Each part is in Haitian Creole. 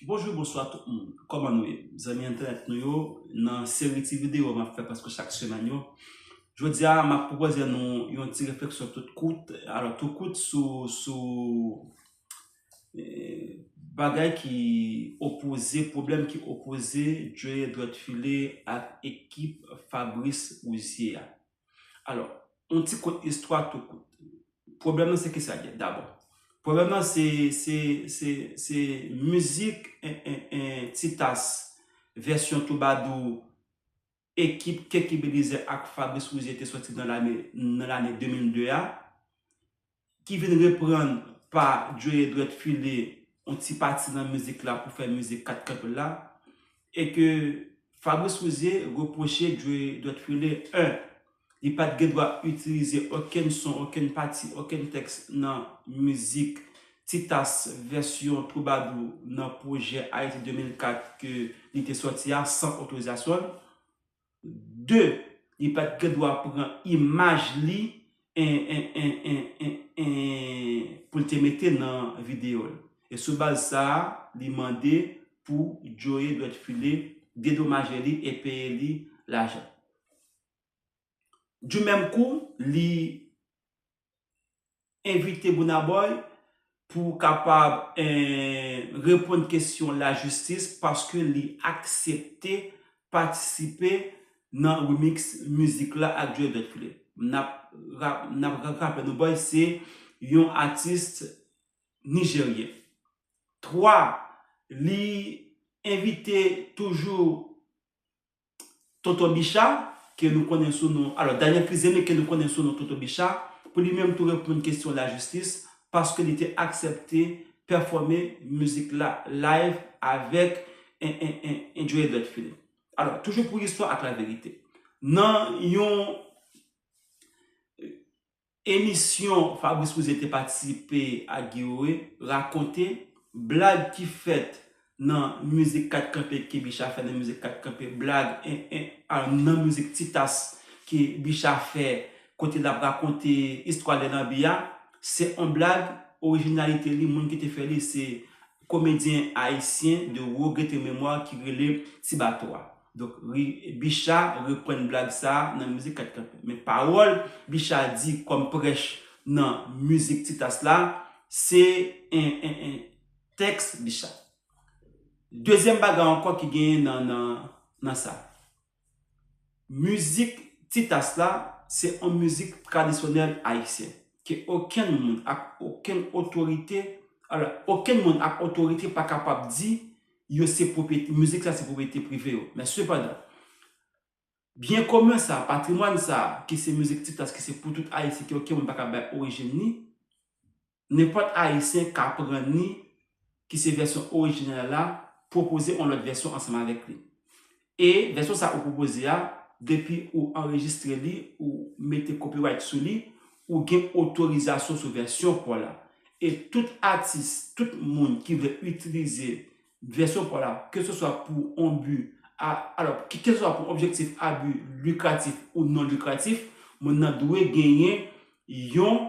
Bonjou bonswa tout moun kòman nou ye zanmi entènèt nou yo nan seri ti videyo map fè prèske chak semèn yo jodi a map pwopozè nou yon ti refleksyon tout kout alò tou kout sou sou bagay ki opoze pwoblèm ki opoze djòye dwèt file ak ekip Fabrice Rouzier a Alò, yon ti kout istwa tou kout. Pwoblèm nan se ki sa l ye dabò? Pwoblèm nan se, se, se, se mizik Titas vèsyon twoubadou ekip Keke Belizaire ak Fabrice Rouzier te soti nan lane, nan lane 2002 a, ki vin reprann pa Joe Dwèt File yon ti pati nan mizik la pou fè mizik 4 kanpe la, e ke Fabrice Rouzier repwoche Joe Dwèt File 1. Li pa t gen dwa itilize okenn son, okenn pati, okenn tèks nan mizik Titas vèsyon Twoubadou nan pwojè Ayiti 2004 ke li te sòti a san otorizasyon l. 2 li pat gen dwa pran imaj li pou l te mete nan videyo l. E sou baz sa a li mande pou Joe Dwetfile dedomaje li e peye li lajan. Du menm kou li envite Burna Boy pou ou kapab reponn kesyon lajistis paske li aksepte patisipe nan remix mizik la ak Joe Dot Philippe. N ap raple nou Boy se yon atis nijeryen. 3, Li envite toujou Tonton Bicha, ke nou konnen sou non, alò Daniel Crisené ke nou konnen sou non Tonton Bicha, pou li menm tou reponn kesyon lajistis, paske li te aksepte pèfòme mizik la live avèk Joe Edward Philippe. Alò, toujou pou listwa ak laverite. Nan yon. Emisyon Fabrice Rouzier te patisipe ak Guiroé rakonte blag ki fèt nan mizik 4 kanpe ke Bicha fè nan mizik 4 kanpe blag nan mizik Ti tas ke Bicha fè kote l ap rakonte istwa lè lanbi a se on blag orijinalite li moun ki te fè li se komedyen ayisyen de rogrete memwa ki rele Ti bato a. Donk ri Bicha reprann blag sa a nan mizik 4 kanpe. Men pawòl Bicha di kòm prèch nan mizik Titas la, se tèks Bicha. Dezyèm bagay ankò ki genyen nan sa. Mizik Titas la se yon mizik tradisyonèl ayisyen ke okenn moun ak okenn otorite, alò okenn moun ak otorite pa kapab di yo se pwopriyete, mizik sa se pwopriyete prive yo. Men sepandan, byen komen sa, patrimwàn sa, ki se mizik Tiklas ki se pou tout Ayisyen ke oken moun pa ka bay orijin ni, nenpòt Ayisyen ka pran ni ki se vèsyon orijinal la, pwopoze on lòt vèsyon ansanm avèk li. E vèsyon sa ou pwopoze a, depi ou anrejistre li, ou mete copyright sou li, ou gen otorizasyon sou vèsyon paw la. E tout atis, tout moun ki vle itilize vèsyon paw la, ke se swa pou on bi a, alò, ke se swa pou objektif a bi likratif ou non likratif, moun nan dwe genyen yon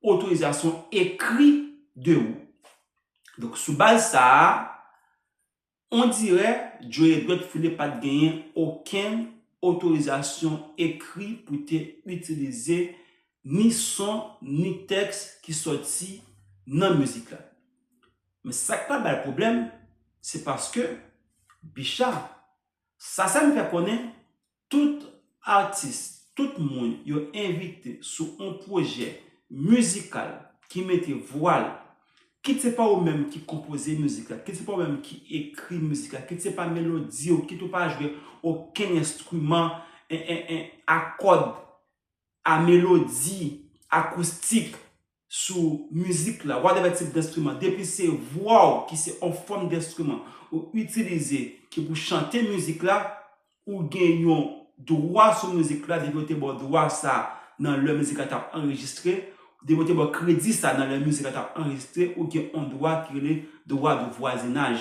otorizasyon ekri de ou. Donk sou baz sa a, On dirè Joe Edward Philippe pa t genyen okenn otorizasyon ekri pou te itilize ni son ni tèks ki sòti nan mizik la. Men sa k pa ba l pwoblèm, se paske Bicha, Sasann fè konnen Tout atis, tout moun yo envite sou on pwojè mizikal ki mete vwa l, kit se pa ou menm ki konpoze mizik la, kit se pa ou menm ki ekri mizik la, kit se pa melodi ou, kit ou pa jwe okenn enstriman a kòd, a melodi, akoustik, sou mizik la, whatever tip denstriman, depi se vwa w ki se on fòm denstriman ou itilize ki pou chante mizik la, ou gen yon dwa sou mizik la depi yo te ba w dwa sa nan lè mizik la t ap anrejistre, depi yo te ba w kredi sa nan lè mizik la t ap anrejistre, ou gen on dwa ki rele dwa de vwazinaj.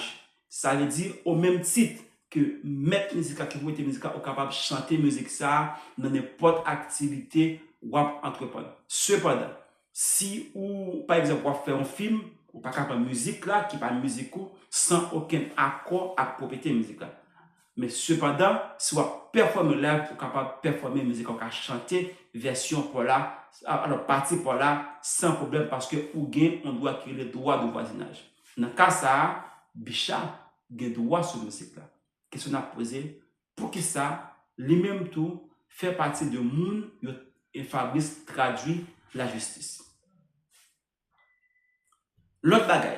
Sa vle di, o menm tit ke mèt mizik la, ki pwopriyetè mizik la, ou kapab chante mizik sa a nan nenpòt aktivite w ap antreprann. Sepandan, si ou, pa egzanp, w ap fè yon fim, ou pa ka pran mizik la, ki pa mizik ou, san okenn akò ak pwopriyetè mizik la. Men sepandan, si w ap pèfòme live pou w kapab pèfòme mizik la, w ka chante vèsyon pa w la, alò pati pa w la san pwoblèm paske ou gen yon dwa ki rele dwa de vwazinaj. Nan ka sa a, Bicha gen dwa sou mizik la. Kesyon n ap poze, poukisa li menm tou fè pati de moun yo e Fabrice tradui lajistis? Lòt bagay,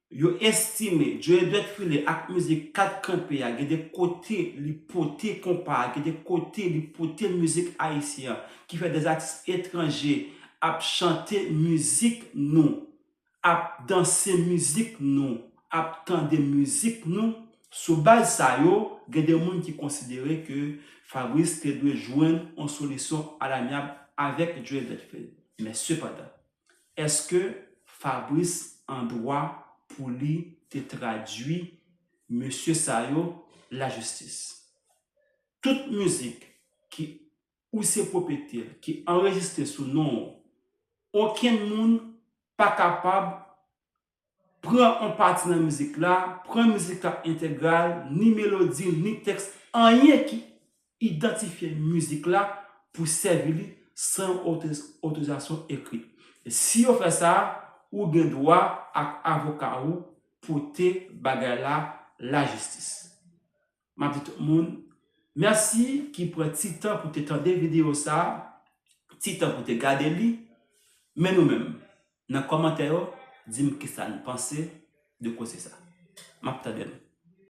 Yo estime Dieudette Philé ak mizik 4 kanpe a gen de kote li pote konpa a, gen de kote li pote mizik ayisyen an ki fè de atis etranje ap chante mizik nou, ap danse mizik nou, ap tande mizik nou. Sou baz sa yo, gen de moun ki konsidere ke Fabrice te dwe jwenn yon solisyon alamyab avèk Dieudette Philé. Men sepandan. Eske Fabrice an dwa pou li te tradwi mesye sa yo la jistis? Tout mizik ki ou se pwopete l ki anrejistre sou non w, okenn moun pa kapab pran on pati nan mizik la, pran mizik la entegral, ni melodi l, ni tèks, anyen ki idantifye mizik la pou sèvi li san yon otorizasyon ekri. Si yo fè sa, ou gen dwa ak avoka ou pote bagay la lajistis. M ap di tout moun mèsi ki pran ti tan pou te tande videyo sa a, ti tan pou te gade li. Men nou menm, nan kòmantè yo, di m kisa n panse de koze sa a. M ap tande nou.